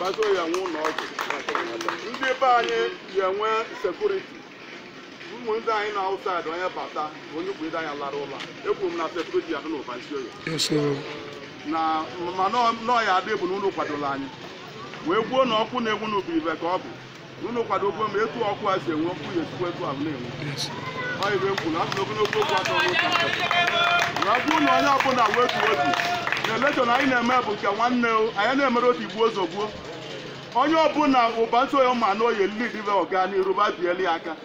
Basioye enwe ụlọ ọgwụ. Ndị be anyị ya-enwe sekuriti. Ụmụ ndị anyị nọ outside onye bata onye bụ ide anya lara ụla. Ekwuru m na sekuriti ya-adị n'Ụbanisioye. Yes, oh. na ma n'ọ ya-adị bụ na unu kwadola anyị wee gwuo na ọkụ na-enwu n'ọ bụ ive ka ọ bụ unu kwadokwe m etu ọkụ a si enwu ọkụ ya-esikwa etu ahụ na-enwu ọ ive m kwuru asị na ogologo okwu adịrọ n'ụka na ọ bụrụ na onye ọbụla wee tuo otu na elekshọn anyị na-eme bụ nke nwanne o, anyị na-emerọ otigbuo ọzọgbuo onye ọbụla Ụbanisioye ma na oyi lid be ọganiru ba bieli aka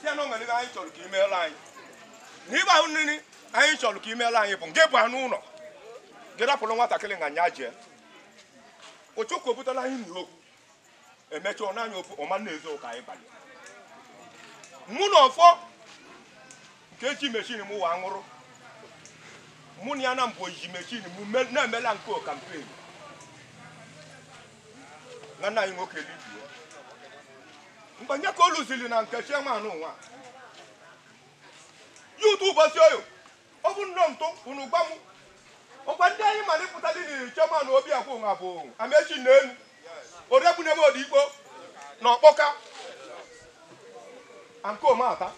si ya na o nwere ihe anyị chọrọ ka i meela anyị na ịgba ahụ nri anyị chọrọ ka i meela anyị bụ nke bụ anụ ụlọ gị rapụrụ nwatakịrị nga nya jee ụchụkụ obutala anyị nri okwu emecha ọ naanị ofu ọma na-ezo ụka anyị banye mụ na ọfọ ka eji meshin mụwa ṅụrụ mụ na ya na mbụ ji meshin m me- na-emela nke kampen nwanne anyị nwoke libie mgbe nye ka o lụziri na nke chairman ụwa ya ụtụ Ụbasioye ọ bụ nnọọ ntụ unu gwa m ọkwa ndị anyị mara ịpụtali na chairman obi akwụ nwa bụ Amechi na elu oregbunebe odigbo na ọkpọka ankomata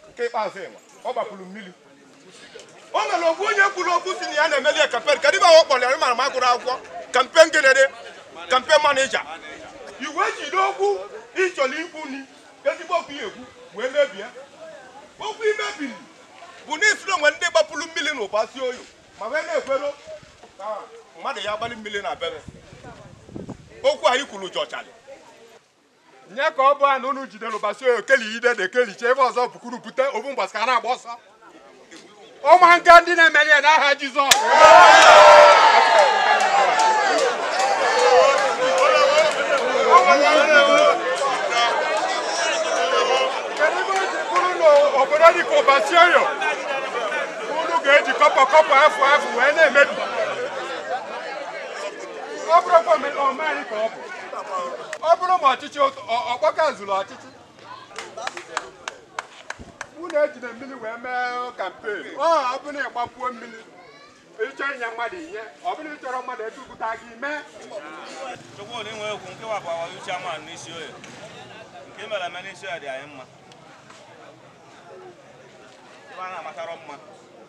nke ikpeazụ ịwa ọ gbapụrụ mmiri o nwere okwu onye kwuru okwu si na ya na-emeli ya kampen kedụ ive ahụ ọ kpọrọ ya maka m agụrọ akwụkwọ kampen gịnịdị kampen manija i wee jide okwu ị chọrọ ikwu n'ezigbo okwu ya-ekwu wee mebie okwu i mebiri bụ na ị sịrị o nwe ndị gbapụrụ mmiri na Ụbasioye ma wee na-ekwero ka mmadụ ya agbalị mmiri na obere okwu anyị kwuru jọchara nye ka ọ bụ a na unu jidere ụbasi okeli ide de kelicha ebe ọzọ bukuru bute obu mgbasa ka a na-agba ọsọ ụmụaka ndị na-emeli ya n'aha Jizọs obodo dị ka Ụbasioye unu ga-eji kọpọ kọpọ afọ afọ wee na-emebi ọ bụrụkwa omenala ka ọ bụ ọ bụrụ ma ọchịchị ọkpọka zuru ọchịchị unu ejide mmiri wee mee kampen ọ bụrụ na ị gbapuo mmiri ị chọọ inye mmadụ ihe ọ bụrụ n'ị chọrọ mmadụ edupụta gị mee chukwu na i nwe okwu nke wapụ awa uche ama n'Isioye nke mere eme n'Isioye dị anyị mma ebe a na-amatara mma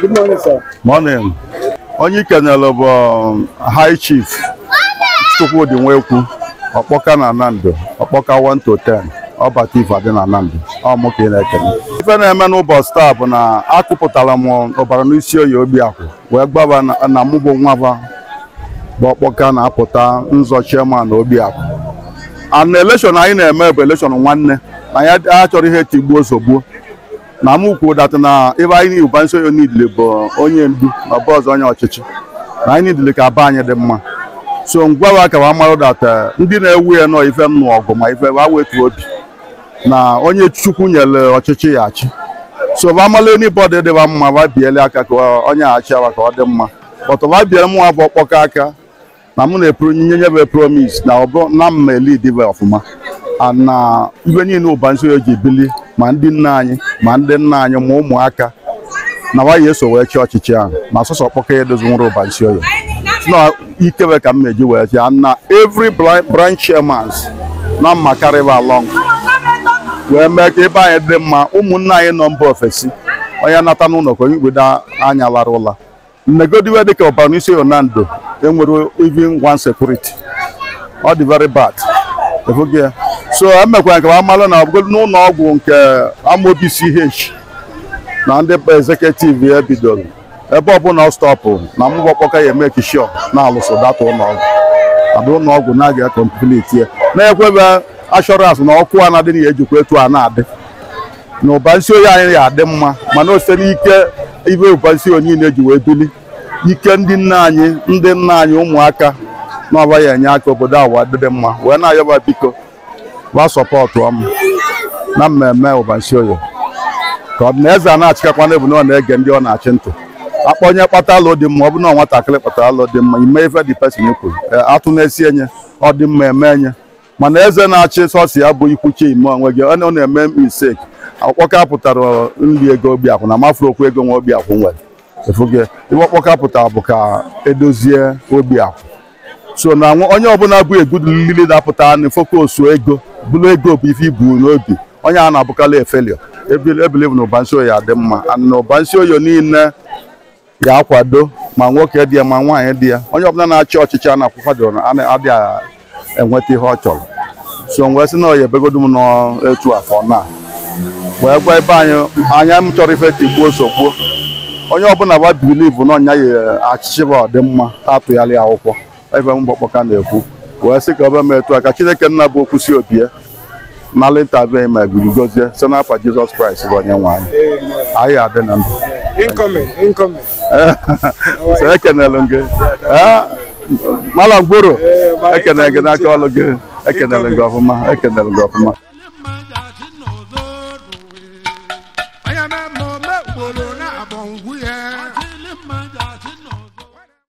Good morning, sir. Morning. Onye i kenere bụ um, High Chief Chukwudi Nwekwu, Ọkpọka na Nando, Ọkpọka 1 to 10. ọ bata ife adị na Nando ọ mụ ka ị na-ekele ife na-eme n'ụbọchị taa bụ na akụpụtara m Ubaranisioye obi akwụ wee gwa ba na- na mụ bụ nwa ba bụ ọkpọka na-apụta nzọ chairman na obi akwụ and elekshọn anyị na-eme bụ elekshọn nwanne na ya achọrọ ihe tigbuo zọgbuo na m kwuo that na ebe anyị niile Ubanisioye nidile bụ onye ndu na ọbụ ọzọ onye ọchịchị na anyị nidile ka be anyị dị mma so m gwa wa ka wa marụ that ndị na-ewu ya nọ ife nnụ ọgụ ma ife wa wetu obi na onye chukwu nyere ọchịchị ya achị so wa mala anybody dịba mma wa biele aka ka onye a chịa wa ka ọ dị mma but wa biele mụwa bụ Ọkpọka aka na mụ na-epro nye nye bụ promise na ọ bụ na m ma-elead ba ọfụma a na ibe niile Ubanisioye ji bili ma ndị nne anyị ma ndị nna anyị ma ụmụaka na wa ya-eso wee chịa ọchịchị ahụ ma sọsọ Ọkpọka ya edozi nwere Ubanisioye na ike ba ka m ma-eji wee chịa na every bri- branch chairmans na m ma-carry ba along wee mee ka ebe anyị dị mma ụmụnne anyị nọ mba ofesi onye nata n'ụnọ ka onye igbodo anya lara ụla Negodi ive dịka Ubanisioye Nando enwerọ even one security ọ dị very bad ị fụgo ya so emekwara nke amalụ na ọbụgodu n'ụnọ ọgwụ nke Amobi CH na ndị executive ya bidoro ebe ọbụla ọ stọpụ na mụ bụ Ọkpọka ya-emake sure na a lụsịa that ụnọ ọgwụ a bụ ụnọ ọgwụ na a ga-complete ya na-ekwe ba assurance na ọkụ a na-adị na ya ejikwa etu a na-adị na Ubanisioye anyị ya-adị mma mana o si n'ike ibe Ubanisioye niile ji wee bili ike ndị nne anyị ndị nna anyị ụmụaka na ọ ba ya-enye aka obodo a wee dịdị mma wee na-ayọ ba biko ba supportụọ mụ na mmemme Ubanisioye ka ọ bụ na eze a na-achịkakwa n'ebu na ọ na-ege ndị ọ na-achị ntị akpọ onye kpata alo dị mma ọ bụ na nwatakịrị kpatara alo dị mma e mee ife the person kwuru atụ na-esi enye ọ dị mma eme enye mana eze na-achị sọsọ ya bụ ikwu chima onwe gị ọ na- ọ na-eme mistake ọkpọka pụtara nri ego obi akwụ na m afụrọ okwu ego nwa obi akwụ nwere ị fụgo ive ọkpọka pụtara bụ ka e dozie obi akwụ so na nwa- onye ọbụla bụ a good leader pụta na focus ego bụrụ ego bụ ife i bu n'obi onye a na-abụkarị a failure I believe na Ubanisioye ya-adị mma and na Ubanisioye niile ga-akwado ma nwoke dị ya ma nwaanyị dị ya onye ọbụla na-achị ọchịchị a na-akwụkwado na a na-adịghị enweta ihe ọ chọrọ so m wee sị na ọ ya ebegodu m n'etu a ka na wee gwa ebe anyị anyị achọrọ ife tigbuo zọgbuo onye ọbụla wa believe na onye a ya-achị ọchịchị ọdịmma a tụnyelụ ya akwụkwọ ebe mgbakpọka na-ekwu wee sị ka o be m etu a ka chineke nna bụ okwu si obi ya mara ịtabe ma gbuji gozie site n'afa jizọs kraịst bụ onye nwe anyị anyị adị na ndụ Incoming, incoming. so ekenelụ m gị Ee, mala mgboro ekenere gị n'aka ọlụ gị ekenelụ gị ọfụma ekenelụ gị ọfụma